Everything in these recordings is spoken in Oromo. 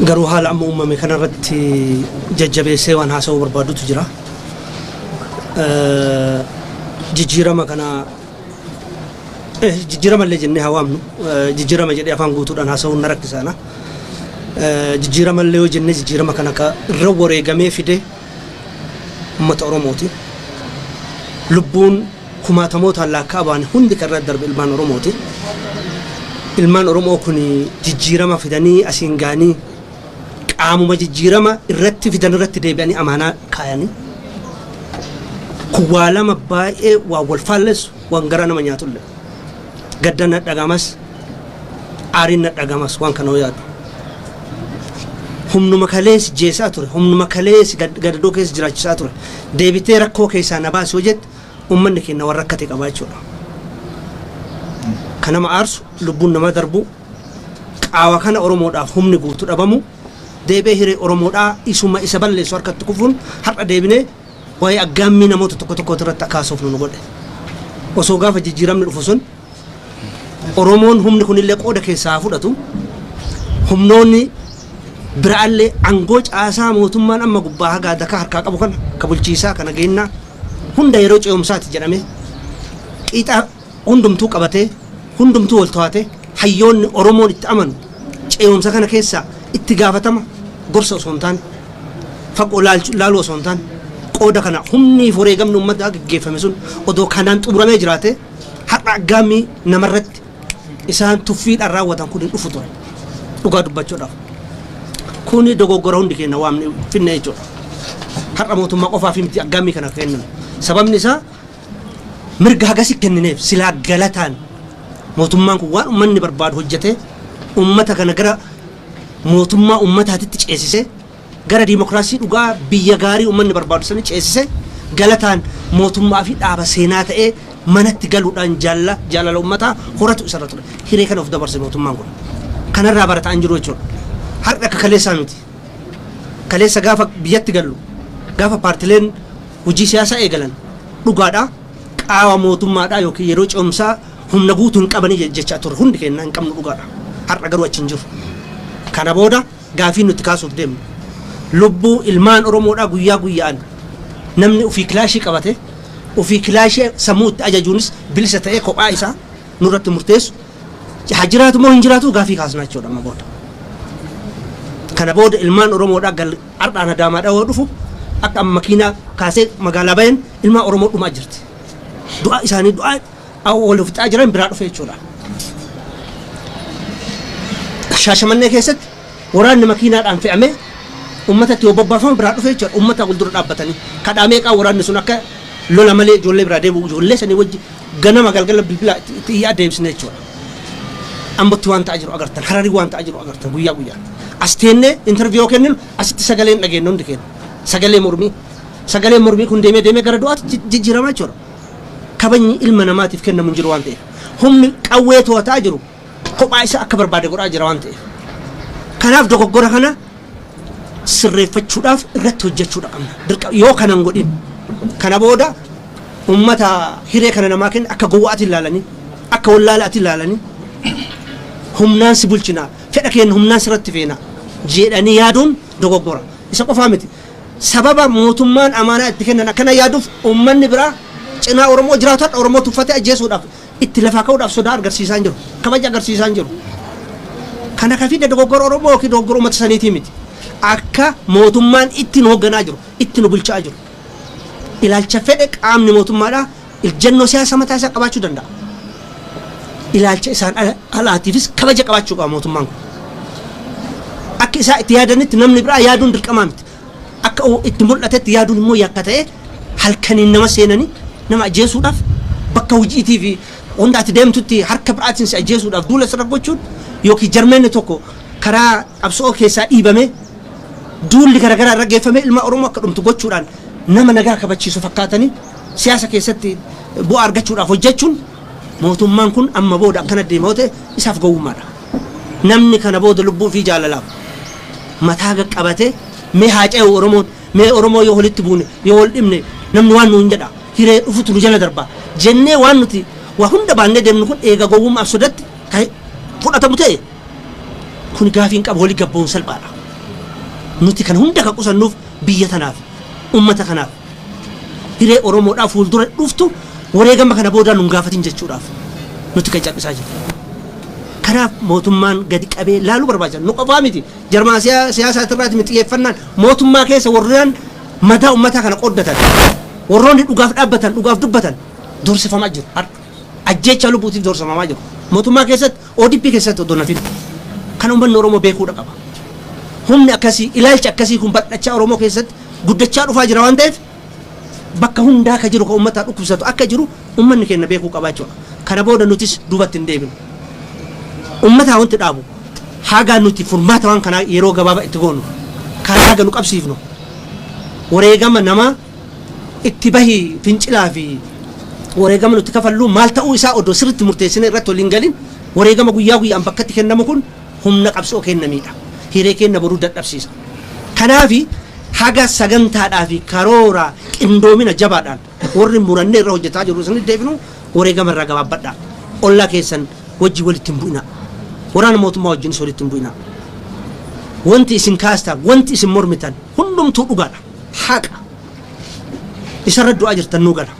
Garuu haala amma uumame kanarratti jajjabeessee waan haasa'uu barbaadutu jira. Eh, Jijjiirama kana eh, jijjiirama illee jennee haa waamnu Eh, jijjiirama jedhee afaan guutuudhaan haasa'uun na rakkisaana. Eh, Jijjiirama illee yoo jennee jijjiirama kana ka irra wareegamee fide uummata Oromooti. Lubbuun kumaatamootaan laakka'amaan hundi kan irra darbe ilmaan Oromooti. Ilmaan Oromoo kun jijjiirama fidanii asiin ga'anii qaamuma jijjiirama irratti fidan irratti deebi'anii amaanaa kaayanii kun waa lama baay'ee waan wal faallessu waan garaa nama nyaatulle gadda na dhagamas aariin na dhagamas waan kana yaadu. Humnuma kalees jeesaa ture humnuma kalees gadadoo keessa jiraachisaa ture deebitee rakkoo keessaa na baasuu jette ummanni keenna wan rakkate qaba jechuudha. Ka nama aarsu, lubbuun namaa darbuu, qaawa kana Oromoodhaaf humni guutu dhabamuu, deebi'ee hiree Oromoodhaa isuma isa balleessu harkatti kufuun har'a deebinee waa'ee aggaammii namoota tokko tokkooti irratti akka haasofnu nu godhe. Osoo gaafa jijjiiramni dhufu sun Oromoon humni kunillee qooda keessaa haa fudhatu. Humnoonni biraallee angoo caasaa mootummaan amma gubbaa hagaa dakaa harkaa qabu kana ka bulchiisaa ka nageennaa hunda yeroo ce'umsaati jedhamee qiixa hundumtuu qabatee hundumtuu wal to'atee hayyoonni Oromoon itti amanu ce'umsa kana keessaa itti gaafatama gorsa osoo hin taane fagoo laalchu- laaluu osoo hin taane qooda kana humnii fi wareegamni uummataa gaggeeffame sun odoo kanaan xumuramee jiraatee har'a aggaammii namarratti isaan tuffiidhaan raawwatan kun hin dhufu ture. Dhugaa dubbachuudhaaf. Kuni dogoggora hundi keenya waan finne jechuudha. Har'a mootummaa qofaaf miti aggaammii kana kenname. Sababni isaa mirga hagasi kennineef silaa galataan mootummaan kun waan uummanni barbaadu hojjetee uummata kana gara mootummaa uummataatitti ceesisee Gara dimokraasii dhugaa biyya gaarii ummanni barbaadu sanii ceesise galataan mootummaa fi dhaaba seenaa ta'ee manatti galuudhaan jaalala jaalala ummataa horatu isarra ture. Hiree kana of dabarse mootummaan kun. Kanarraa barataa hin jiru jechuudha. Har'a akka kaleessaa miti. Kaleessa gaafa biyyatti gallu gaafa paartileen hojii siyaasaa eegalan dhugaadhaa qaawa mootummaadhaa yookiin yeroo ce'umsaa humna guutuu hin qabanii jechaa turre hundi keenya hin qabnu dhugaadha. Har'a garuu achi hin jiru. Kana booda Gaafiin nuti kaasuuf deemnu lubbuu ilmaan Oromoodhaa guyyaa guyya'aan namni ufii kilaashii qabate ufii kilaashii sammuu itti ajajuunis bilisa ta'ee kophaa isaa nurratti murteessu haa jiraatu moo hin jiraatuu gaafii kaasnaa jechuudha amma booda. Kana booda ilmaan Oromoodhaa gal har'aan Adaamaadhaa yoo dhufu akka amma makiinaa kaasee magaalaa bayan ilmaan Oromoo dhumaa jirti. Du'aa isaanii du'aa Awwa wal fixaa jiran biraa dhufe jechuudha. Shaashamannee keessatti waraanni makiinaadhaan fe'amee uummatatti yoo bobbaafamu biraa dhufe jechuudha. Uummataa wal dura dhaabbatanii kadhaa meeqaa waraanni sun akka lola malee ijoollee biraa deebi'u ijoollee sanii wajji ganama galgala bilbilaa itti itti iyyaa deebisne jechuudha. Ambotti waan ta'aa jiru agartan hararii waan ta'aa jiru agartan guyyaa guyyaa. As teennee interviyoo kenninu asitti sagaleen dhageenye hundi keenya. Sagalee mormii. Sagaleen mormii kun deemee deemee gara du'aatti jijjiiramaa jechuudha. kabajni ilma namaatiif kennamu hin jiru waan ta'eef. Humni qawwee to'ataa jiru kophaa isaa akka barbaade godhaa jira waan ta'eef. Kanaaf dogoggora kana sirreeffachuudhaaf irratti hojjechuudha qabna. Dirqa yoo kana hin godhin kana booda uummata hiree kana namaa kenna akka gowwaati ilaalanii akka wallaalaati ilaalanii humnaan si bulchina fedha keenya humnaan sirratti feena jedhanii yaaduun dogoggora. Isa qofaa miti. Sababa mootummaan amaanaa itti kennan akkana yaaduuf uummanni biraa cinaa Oromoo jiraatu har'a Oromoo tuffatee ajjeesuudhaaf itti lafaa ka'uudhaaf sodaa argarsiisaa hin jiru. Kabaja agarsiisaa hin jiru. Kana ka fide dogoggora Oromoo yookiin dogoggora uummata saniitii miti. Akka mootummaan itti nu hogganaa jiru, itti nu bulchaa jiru. Ilaalcha fedhe qaamni mootummaadhaa Ejjennoo siyaasaa mataa isaa qabaachuu danda'a. Ilaalcha isaan ala- alaatiifis kabaja qabaachuu qaba mootummaan kun. Akka isaa itti yaadanitti namni biraa yaaduun dirqamaa miti. Akka u- itti mul'atetti yaaduun immoo yakka ta'ee halkaniin nama seenanii nama ajjeesuudhaaf bakka hojiitii fi wanta ati deemtutti harka biraatiin si ajjeesuudhaaf duula sirra gochuun yookiin jarmeenni tokko karaa qabsoo keessaa dhiibamee duulli garaagaraa irra geeffamee ilma Oromoo akka dhumtu gochuudhaan nama nagaa kabachiisu fakkaatanii siyaasa keessatti bu'aa argachuudhaaf hojjechuun mootummaan kun amma booda akkana deema yoo ta'e isaaf gowwummaadha. Namni kana booda lubbuu fi jaalalaaf mataa qaqqabatee mee haa ce'u Oromoon mee Oromoo yoo walitti buune yoo wal dhibne namni waan nuun jedha hiree dhufutu nu jala darba jennee waan nuti waa hunda baannee deemnu kun eega gowwummaaf sodatti kan fudhatamu ta'e kun gaafiin qabu wali gabboon salphaadha. Nuti kan hunda kan qusannuuf biyya tanaaf ummata kanaaf Hiree Oromoodhaa fuuldura dhuftu wareegama kana boodaa nun gaafatin jechuudhaaf nutti kan cal'isaa jiru. Kanaaf mootummaan gadi qabee laaluu barbaachisa. Nu qofaa miti. Jarmaa siyaasaati irraati miti xiyyeeffannaan mootummaa keessa warreen madaa ummataa kana qooddatan warroonni dhugaaf dhaabbatan dhugaaf dubbatan doorsifamaa jiru har'a. Ajjeechaa lubbuutiif doorsifamaa jiru. Mootummaa keessatti ODP keessatti odoo hin hafin kana ummanni Oromoo beekuudha qaba. Humni akkasii, ilaalchi akkasii kun bal'achaa Oromoo keessatti guddachaa dhufaa jira waan ta'eef bakka hundaa ka jiru ka ummataa dhukkubsatu akka jiru ummanni keenya beekuu qaba jechuudha. Kana booda nutis duubatti hin deebinu. Ummataa wanti dhaabu haga nuti furmaata waan kanaa yeroo gabaabaa itti goonu karaa haga nu qabsiifnu wareegama namaa itti bahi fincilaa fi wareegama nuti kafalluu maal ta'uu isaa odoo sirritti murteessinee irratti waliin galin wareegama guyyaa guyyaan bakkatti kennamu kun humna qabsoo keenna miidha. Hiree keenna boruu dadhabsiisa. Kanaafi haga sagantaadhaa fi karoora qindoomina jabaadhaan warri murannee irra hojjetaa jirru isinit deebinu wareegama irraa gabaabbadhaa. Ollaa keessan wajjin walitti hin bu'inaa. Waraana mootummaa wajjinis walitti hin bu'inaa. Wanti isin kaastaan, wanti isin mormitan hundumtuu dhugaadha. haqa isarra du'aa jirtan nuu gala.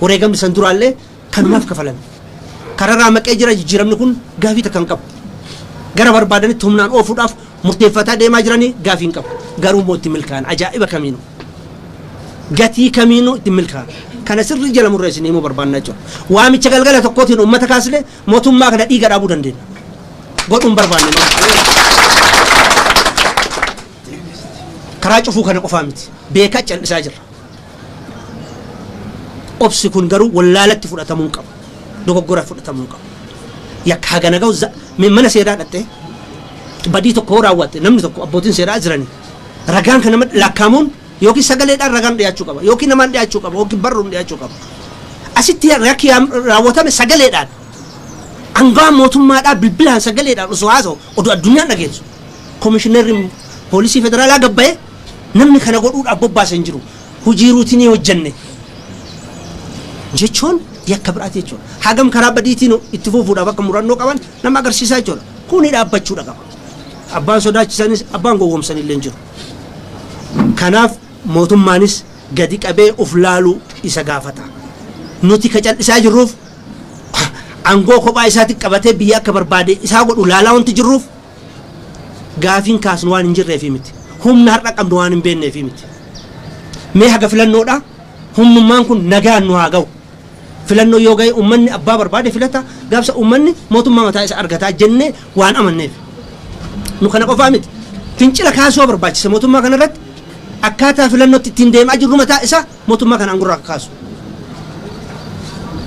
Wareegamni san duraallee kanumaaf kafalame. Kararaa maqee jira jijjiiramni kun gaafii takka hin qabu. Gara barbaadanitti humnaan oofuudhaaf murteeffataa deemaa jiranii gaafii hin qabu. Garuu immoo itti milkaa'an ajaa'iba kamiinuu. Gatii kamiinuu itti milkaa'an. Kana sirrii jala murree isin himuu barbaannaa jiru. Waamicha galgala tokkootiin uummata kaasnee mootummaa kana dhiiga dhaabuu dandeenya. Godhuun barbaanne. Karaa cufuu kana qofaa miti. Beekaa cal'isaa jirra. Obsi kun garuu wallaalatti fudhatamuu hin qabu. Dogoggora fudhatamuu hin qabu. Yakka hagana ga'u za- mee mana seeraa dhaqxee badii tokko yoo raawwatte namni tokko abbootiin seeraa jiranii ragaan kan nama lakkaamuun yookiin sagaleedhaan ragaan dhiyaachuu qaba yookiin namaan dhiyaachuu qaba yookiin barruun dhiyaachuu qaba. Asitti rakki yaam- raawwatame sagaleedhaan angawaan mootummaadhaa bilbilaan sagaleedhaan osoo haasa'u oduu addunyaan dhageessu Komishinarri Poolisii Federaalaa gad ba'ee namni kana godhuudhaaf bobbaase hin jiru. Hojii ruutinii hojjenne jechuun yakka biraati jechuudha. Hagam karaa badiitiin itti fufuudhaaf akka murannoo qaban nama agarsiisaa jechuudha. Kuni dhaabbachuudha qaba. Abbaan sodaachisanis abbaan gowwoomsan illee hin jiru. Kanaaf mootummaanis gadi qabee of laaluu isa gaafata. Nuti ka cal'isaa jirruuf aangoo kophaa isaatiin qabatee biyya akka barbaade isaa godhu laalaa wanti jirruuf Gaafiin kaasnu waan hin jirreefii miti. Humna har'a qabnu waan hin beekneefii miti. Mee haga filannoodhaa humnummaan kun nagaan nu haa gahu. Filannoo yoo gahe ummanni abbaa barbaade filata gaafsa ummanni mootummaa mataa isa argataa jennee waan amanneef. Nu kana qofaa miti. Fincila kaasuu barbaachisa mootummaa kanarratti akkaataa filannootti ittiin deemaa jirru mataa isaa Mootummaa kana aangorraa akka kaasu.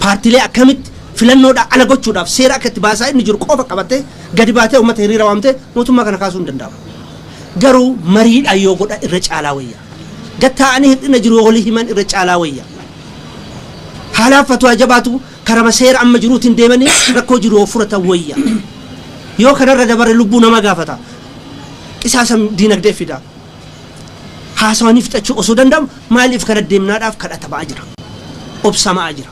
Paartiilee akkamitti filannoodhaa ala gochuudhaaf seera akka itti baasaa inni jiru qofa qabattee gadi baatee uummata hiriira waamtee mootummaa kana kaasuu hin danda'amu. Garuu mariidhaan yoo godha irra caalaa wayya. Gad taa'anii hir'ina jiru yoo walii himan irra caalaa wayya. Haalaaf fatwaa jabaatu karama seera amma jiruutiin deemanii rakkoo jiru yoo furatan wayya. Yoo kanarra dabare lubbuu namaa gaafata. Qisaasa diinagdee fida. Haasawanii fixachuu osoo danda'amu maaliif kana deemnaadhaaf kadhatama'aa jira. Obsama'aa jira.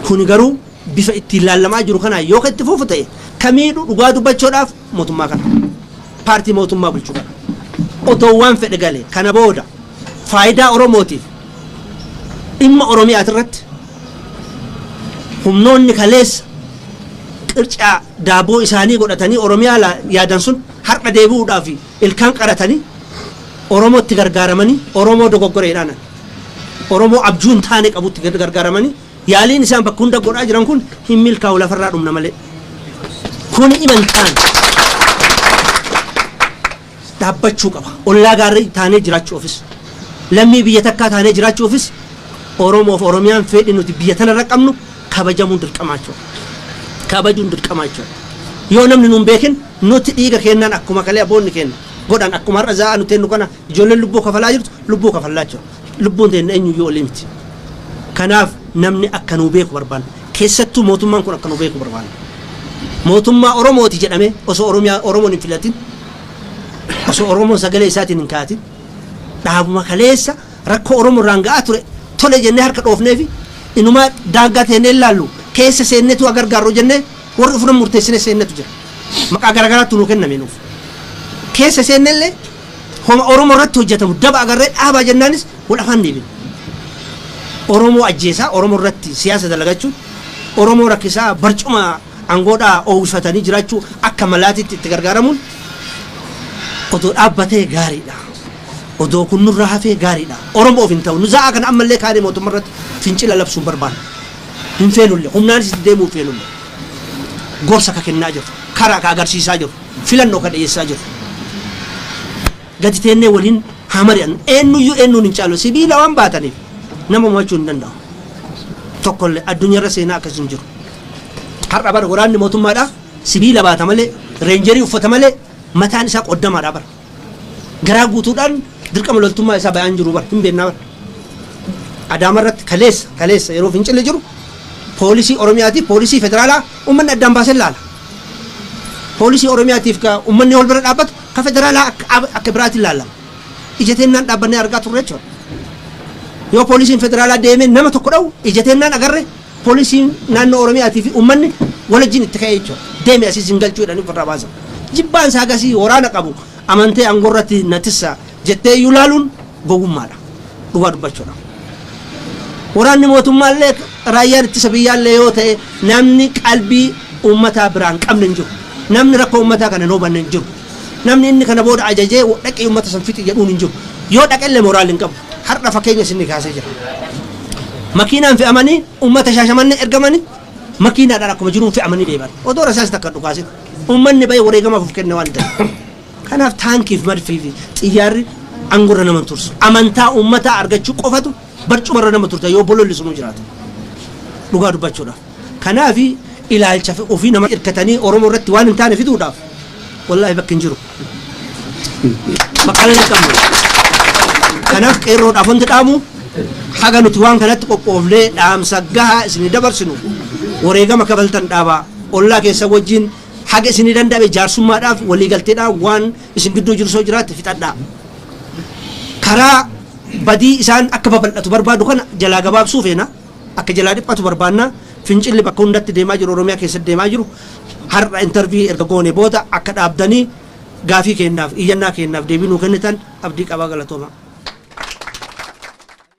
Kuni garuu bifa ittiin laallamaa jiru kanaan yoo itti fufu ta'e ka miidhu dhugaa dubbachoodhaaf mootummaa kana. Paartii mootummaa bulchu kana. Otoo waan fedhe galee kana booda faayidaa Oromootiif dhimma Oromiyaatirratti humnoonni kaleessa qircaa daaboo isaanii godhatanii Oromiyaa laa yaadan sun har'a deebi'uudhaaf ilkaan qaratanii Oromootti gargaaramanii Oromoo dogoggore jedhaanan. Oromoo abjuu hin taane qabutti gar- gargaaramanii yaaliin isaan bakka hunda godhaa jiran kun hin milkaa'u lafarraa dhumna malee. Kuni iman taane. dhaabbachuu qaba. Ollaa gaarii taanee jiraachuufis, lammii biyya takkaa taanee jiraachuufis Oromoof Oromiyaan feedhi nuti biyya tanarra qabnu kabajamuun dirqamaa jechuudha. Kabajuun dirqamaa jechuudha. Yoo namni nuun beekin nuti dhiiga keennaan akkuma kalee aboonni keenna godhan akkuma har'a zaa'aa nu teennu kana ijoolleen lubbuu kafalaa jirtu lubbuu kafallaa jechuudha. Lubbuun teenna eenyuyyuu olii miti. Kanaaf namni akka nuu beeku barbaanna. Keessattuu mootummaan kun akka nu beeku barbaanna. Mootummaa Oromooti jedhamee osoo Oromiyaa Oromoon hin filatin, osoo Oromoon sagalee isaatiin hin kaayatin, dhaabuma kaleessa rakkoo Oromoo irraan ga'aa ture tole jennee harka dhoofnee fi inumaa daangaa teennee hin laallu keessa seenneetu haa gargaarru jennee warri ofirra murteessine seennetu jira. Maqaa garaagaraattu nuu kenname nuuf. Keessa seenne illee Homa Oromoo irratti hojjatamu daba agarree dhaabaa jennaanis wal afaan deebine. Oromoo ajjeesaa, Oromoo irratti siyaasa dalagachuun, Oromoo rakkisaa barcuma angoodhaa oowwifatanii jiraachuu akka malaatitti itti gargaaramuun odoo dhaabbatee gaariidha. Odoo kun nurraa hafee gaariidha. Oromoof hin ta'u. Nu za'aa kana ammallee kaanee mootumma irratti fincila labsuu hin barbaannu. Hin feenulle. Humnaanis itti deemuu hin feenulle. Gorsa ka kennaa jirru. Karaa ka agarsiisaa jirru. filanno ka dhiyeessaa jirru. Gadi teennee waliin haa mari'annu. Eennuyyuu eennuun hin caalu. Sibiila waan baataniif nama mo'achuu hin danda'u. Tokkollee addunyarra seenaa akkas hin jiru. Har'a bar waraanni mootummaadhaa sibiila baata malee, reenjerii uffata malee mataan isaa qoddamaadha bar. Garaa guutuudhaan dirqama loltummaa isaa bayaan jiru bar hin beennaa bar. Adaama irratti kaleessa kaleessa yeroo fincilli jiru poolisii Oromiyaatiif poolisii federaalaa ummanni addaan baasee laala. Poolisii Oromiyaatiif ka ummanni wal bira dhaabbatu ka federaalaa akka ab- akka biraatiin laalama. Ija teennaan dhaabbannee argaa turre jechuudha. Yoo poolisiin federaalaa deemee nama tokko dha'u ija teennaan agarre Polisiin naannoo Oromiyaatii fi uummanni wal wajjin itti ka'ee jechuudha. Deemi asii sin galchuu jedhanii ofirraa baasan. Jibbaan isaa gasii waraana qabu amantee aangoo irratti na tissa jettee iyyuu laaluun gowwummaadha. Dhugaa dubbachuudhaaf. Waraanni mootummaa illee raayyaan ittisa biyyaa illee yoo ta'e namni qalbii uummataa biraan qabne hin jiru. Namni rakkoo uummataa kana hin hubanne hin jiru. Namni inni kana booda ajajee dhaqii ummata san fixi jedhuun hin jiru. Yoo dhaqelle moraal hin qabu. Hardha fakeenya isinni kaasee jira. Makiinaan fe'amanii ummata Shaashamannee ergamani makiinaadhaan akkuma jiruun fe'amanii deeman. Odoo rasaasi takka hin dhukaasin. Ummanni ba'ee wareegamaaf of kenne waan ta'eef. Kanaaf taankiif madfii fi xiyyaarri angorra nama hin tursu. Amantaa ummataa argachuu qofatu barcumarra nama turta yoo bololli sunuu jiraate. Dhugaa dubbachuudhaaf. Kanaaf ilaalcha ofii nama irkatanii Oromoo irratti waan hin taane fiduudhaaf wallaahi bakki hin jiru. Maqaan hin qabnu. Kanaaf qeerroodhaaf wanti dhaamu haga nuti waan kanatti qophoofnee dhaamsa gahaa isinii dabarsinu wareegama kafaltan dhaabaa ollaa keessan wajjin haga isinii danda'ame jaarsummaadhaaf waliigalteedhaan waan isin gidduu jiru soo jiraatte fixadhaa. Karaa badii isaan akka babal'atu barbaadu kana jalaa gabaabsuu feena. Akka jalaa dhiphatu barbaanna. Fincilli bakka hundatti deemaa jiru Oromiyaa keessatti deemaa jiru har'a intervii erga goone booda akka dhaabdanii gaafii keennaaf iyyannaa keennaaf deebii nuu kennitan abdii qabaa galatoomaa.